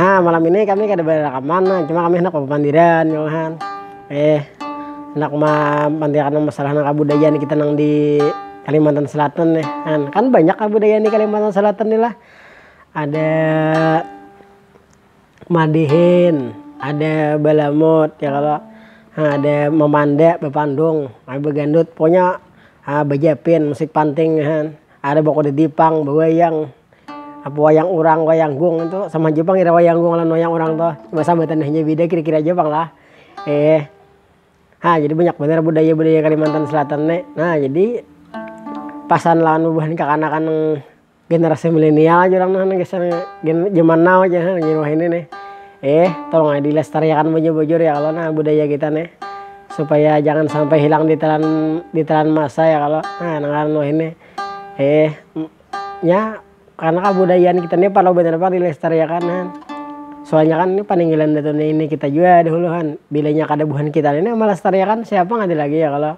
Nah, malam ini kami kada berakaman, nah, cuma kami handak bapamandiran ya kan. Eh, handak mamandiakan masalah nang kabudayaan kita nang di Kalimantan Selatan nih. Kan, kan banyak kabudayaan di Kalimantan Selatan nih lah. Ada madihin, ada balamut ya kalau nah, ada memanda, bepandung, ada begandut, pokoknya ah, bejapin, musik panting kan. Ada bakuda dipang, bawayang, Apa wayang urang, wayang gung itu sama ja pang ira wayang gung lawan wayang urang tuh, cuma sambatan hanya bida kira-kira ja pang lah. ha jadi banyak banar budaya-budaya kalimantan selatan ne. Nah jadi pasan lawan bubuhan kakanakan nang generasi milenial aja urang nang gasan gen jaman now aja ha jar wahini nih. tolong ai dilestariakan bujur-bujur ya kalo nah budaya kita nih, supaya jangan sampai hilang ditelan ditelan masa ya kalo, nah nang ngaran wahini. nya karena kabudayaan kita nih parlu banar pang dilestariakan han, soalnya kan ini paninggalan datu nenek kita jua dahulu han, bila nya kada buhan kita nih nang malestariakan siapa nang ada lagi ya kalo,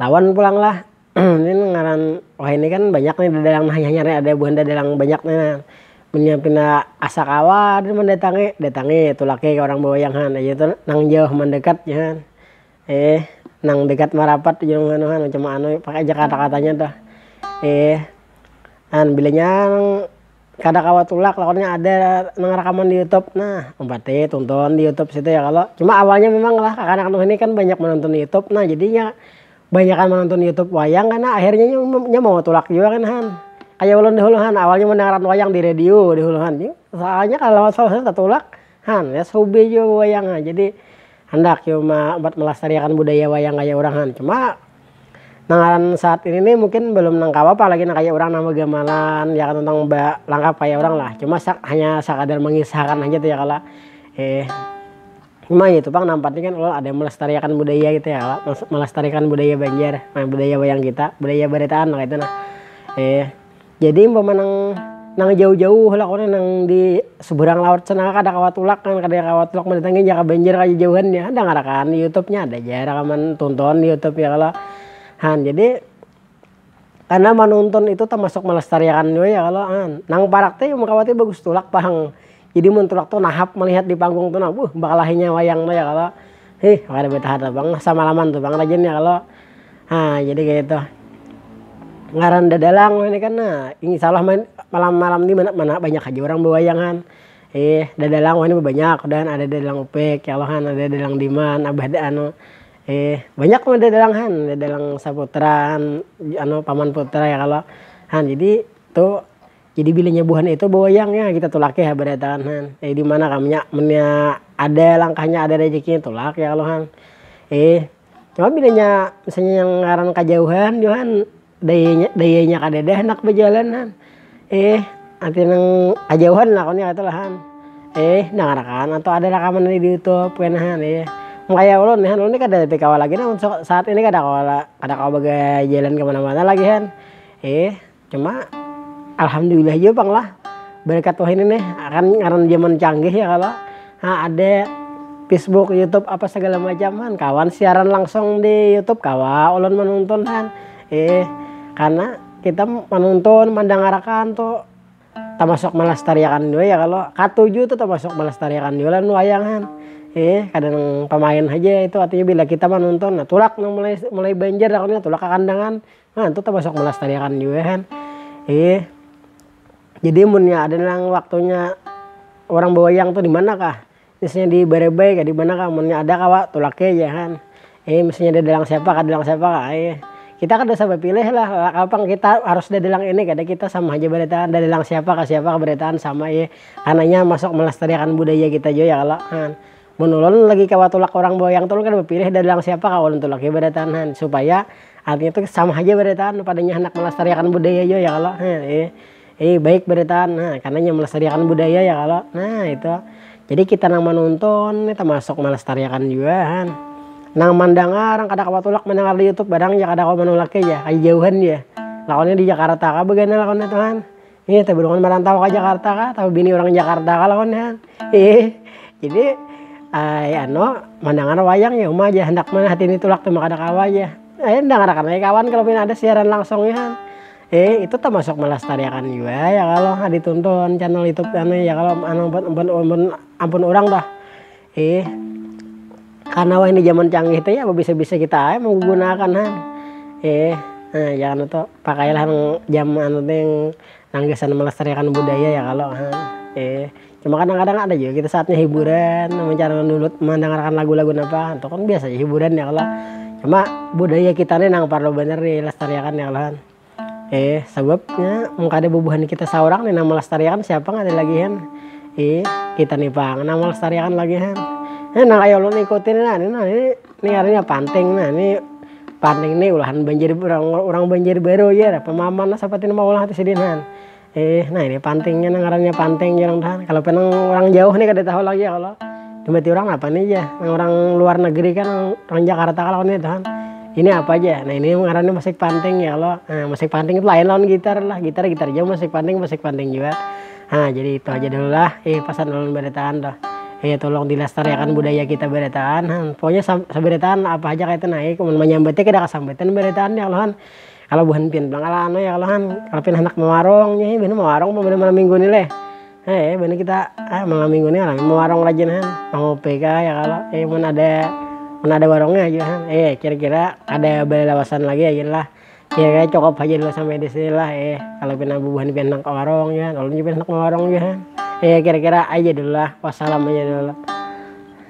lawan pulang lah ini ngaran wahini kan banyak nih dadalang nang hanyar hanyar nih ada buhan dadalang banyak nih nah, munnya pina asa kawa haja mandatangi datangi tulaki ka urang bawayang han nang jauh nang dekat jar. Eeh nang dekat marapat jar wan anu han macam maanu pakai aja kata-katanya tuh eeh han bilanya nang kada kawa tulak lawannya ada nang rakaman di youtube nah umpati tunton di youtube situ ya kalo cuma awalnya memang lah kakanak nuh ini kan banyak menonton youtube nah jadi inya banyakan menonton youtube wayang kena akhirnya inya mau tulak jua kan han kaya ulun dahulu han awalnya mendengarkan wayang di radio dahulu han soalnya kalo tatulang. Han ya subuh jua wayang ha jadi handak jua ma buat melestariakan budaya wayang kaya urang han cuma nang ngaran saat ini nih mungkin belum nang kawa pa lagi nang kaya urang nang begamalan ya kan nang ba langkap kaya urang lah cuma sak hanya sakadar mengisahkan haja tu ya kalo cuma itu pang nang penting kan ulun ada melestariakan budaya gitu ya kalo melestariakan budaya banjar nah budaya wayang kita budaya baritaan nang kaitu nah. Jadi umpama nang nang jauh-jauh lah kalo nang di seberang laut sana kada kawa tulak kan kada kawa tulak mendatangi jaka banjar ka jauhan nya ada ngarakan di youtube nya ada ja rakaman tunton di youtube ya kalo han jadi karna manuntun itu tamasuk melestariakan jua ya kalo han nang parak tu imbah kawa tu bagus tulak pang. Jadi mun tulak tu nahap malihat di panggung tu nah, buh bakalahinya wayang tu ya kalo. Hih kada betahan tu pang, samalaman tu pang rajin ya kalo. Nah jadi kaya itu. Ngaran dadalang ini kan nah, insya allah malam-malam ni mana banyak haja urang bewayangan. Hih dadalang wahini bebanyak, dan ada dadalang upik ya kalo, ada dadalang diman, abah anu. Hih banyak pang dadalang han, dadalang saputra, paman putra ya kalo. Nah jadi tu. Jadi bila nya buhan itu bawayang nya kita tulak ya badatangan han. Eh di mana kam nya munnya ada langkahnya ada rejekinya tulak ya kalo han. Eh cuma bila nya misalnya yang ngaran kajauhan jua han dayanya dayanya kadada handak bajalan han. Eh ada nang kajauhan lah kalo kaitu lah han. Eh dangar akan atau ada rakaman dari di youtube kena han eh. Makanya ulun nih han ulun nih kada tapi kawa lagi nah saat ini kada kawa kada kawa bajalan kemana mana lagi han. Eh. Cuma alhamdulillah jua pang lah berkat wahini nih kan ngaran zaman canggih ya kalo ha ada pisbuk yutub apa segala macam kan kawan siaran langsung di yutub kawa ulun manunton kan ih karena kita manunton mandangarakan tu tamasuk melestariakan jua ya kalo katuju tu tamasuk melestariakan jua lawan wayang kan ih kada nang pamain haja itu artinya bila kita manunton nah tulak nang mulai mulai banjar aku nih tulak ka kandangan. Nah, itu termasuk melestarikan juga kan. Iya. Jadi munnya ada yang waktunya orang bawayang tuh di mana kah? Misalnya di Barebai kah di mana kah? Munnya ada kawa tulaknya aja kan. Iya, misalnya ada dalang siapa kah dalang siapa kah. Iya. Kita kada usah bapilih lah, kapang kita harus ada dalang ini kada kita sama haja baritaan ada dalang siapa kah siapa kah baritaan sama iya. Karena inya masuk melestariakan budaya kita jua ya kalo. Mun ulun lagi kawa tulak urang boyang tu ulun kada bapilih dalang siapa kawa ulun tulak jua badataan han supaya artinya tu sama haja badataan padanya handak melestariakan budaya jua ya kalo baik badataan nah karna inya melestariakan budaya ya kalo nah itu jadi kita nang manonton ni tamasuk melestariakan jua han nang mandangar nang kada kawa tulak mandangar di youtube barang ja kada kawa manulaki ja ai jauhan ja lawannya di jakarta kah bagana lawannya tu han. Ih, tapi lawan merantau ke Jakarta kah, tapi bini orang Jakarta kah lawan ya. Ih, jadi ay anu mendengar wayang ya uma aja hendak mana hati ini tulak tuh maka ada kawa aja. Ay eh, dengar akan ay kawan kalau pina ada siaran langsung ya. Eh, itu termasuk melestariakan juga ya kalau ditonton channel YouTube anu ya kalau anu ampun ampun ampun orang dah. Ih, karena wah ini zaman canggih teh ya bisa-bisa kita aja menggunakan han. Eh, nah, ya anu tuh pakailah yang jam anu tuh yang nanggisan melestarikan budaya ya kalau han. Eh, cuma kadang-kadang ada juga kita saatnya hiburan, mencari dulu mendengarkan lagu-lagu apa, itu kan biasa aja hiburan ya kalau. Cuma budaya kita nih nang perlu bener dilestarikan ya kalau han. Eh, sababnya mun kada bubuhan kita saurang nih nang melestariakan siapa nggak ada lagi han. Eh, kita nih pang nang melestariakan lagi han. Eh, nang ayo lu ikutin nah, ini nah ini ini artinya panting nah ini panting nih ulahan banjir orang orang banjir baru ya pemaman nah seperti mau ulah di sini han. Eh, nah ini pantingnya nah ngarannya panting jarang tahan. Kalau penang orang jauh nih kada tahu lagi ya Allah. Jembati orang apa nih ya? Nah, orang luar negeri kan orang Jakarta kalau nih tahan. Ini apa aja? Nah ini ngarannya musik panting ya Allah. Nah, musik panting itu lain lawan gitar lah. Gitar gitar jauh musik panting musik panting juga. Nah jadi itu aja dulu lah. Eh pesan dulu beretaan dah. Eh tolong dilestarikan budaya kita beretaan. Nah, pokoknya seberetaan apa aja kayak itu naik. Menyambetnya kita kesambetan beretaan ya Allah. Kalo buhan pian pulang kalo anu ya kalo han, kalo pian handak mawarung nya buhannya mawarung pang malam minggu ni leh, he buhannya kita malam minggu ni rami mawarung rajin han, mangupi kah ya kalo he mun ada mun ada warungnya jua han he kira kira kada balawasan lagi ya gin lah, kira kira cukup haja dulu sampai disini lah he, kalo pina bubuhan pian nang kawarung jua han ulun jua pian handak mawarung jua han, he kira kira ai ja dulu lah wassalam aja dulu.